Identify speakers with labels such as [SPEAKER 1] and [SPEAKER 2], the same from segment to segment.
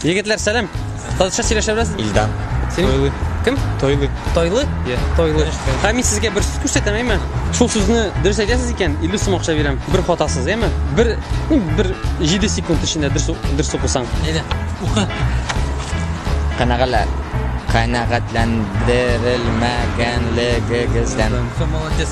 [SPEAKER 1] Егетләр, сәлам. Татарча сөйләшә беләсез? Илдан. Тойлы. Кем? Тойлы. Тойлы?
[SPEAKER 2] Yeah.
[SPEAKER 1] Тойлы. Һәм мин сезгә бер сүз күрсәтәм, әйме? Шул сүзне дөрес әйтәсез икән, 50 сум акча бирәм. Бер хатасыз, әйме? Бер, ну, бер 7 секунд эчендә дөрес дөрес укысаң. Әйдә, укы. Канагала. Канагатландырылмаган
[SPEAKER 2] легегездән. Молодец.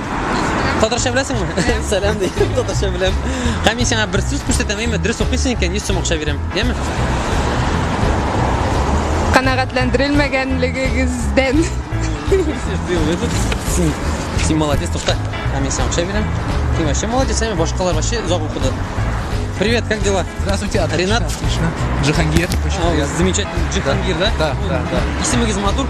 [SPEAKER 1] Татарча беләсеңме? Сәлам ди. Татарча беләм. Һәм мин сиңа бер сүз күрсәтәм, әйме, дөрес укыйсың икән, 100 сум акча бирәм. Яме?
[SPEAKER 3] Канәгатьләндерелмәгәнлегегездән.
[SPEAKER 1] Син молодец, тукта. Һәм мин сиңа акча бирәм. Син вообще молодец, әйме, башкалар вообще озак укыды. Привет, как дела? Здравствуйте, отлично. Ренат?
[SPEAKER 2] Отлично.
[SPEAKER 1] Джихангир,
[SPEAKER 2] очень Ау, приятно. Замечательно.
[SPEAKER 1] Джихангир, да? Да, да, да.
[SPEAKER 2] Исемегез матур.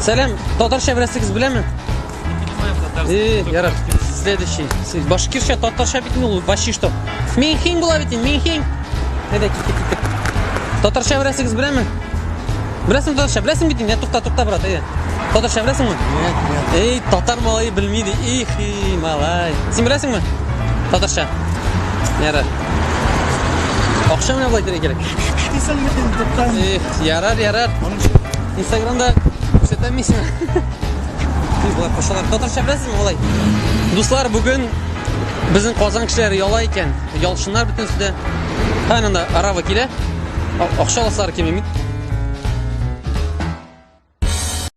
[SPEAKER 1] Сәлам, татарча беләсегез беләме? Э, ярар. Следующий. Сез башкирча, татарча бит ул вообще что? Минхин була бит, минхин. Әйдә, китте, китте. Татарча беләсегез беләме? Беләсең татарча, беләсең бит, я тукта, тукта, брат, әйдә. Татарча беләсеңме? Нет, нет. Эй,
[SPEAKER 2] татар
[SPEAKER 1] малай белми ди. Их, и, малай. Син беләсеңме? Татарча. Ярар. Акча менә булай дирәк кирәк. Исәнмесен, Тукай. Эх, ярар, ярар. Аның Инстаграмда күрсәтәм мин сиңа. Тиз болар кошалар. Татарча беләсезме алай? Дуслар, бүген безнең Казан кешеләре яла икән. Ялчыннар бөтенесе дә. Һәм анда арава килә. Акча аласылар килми.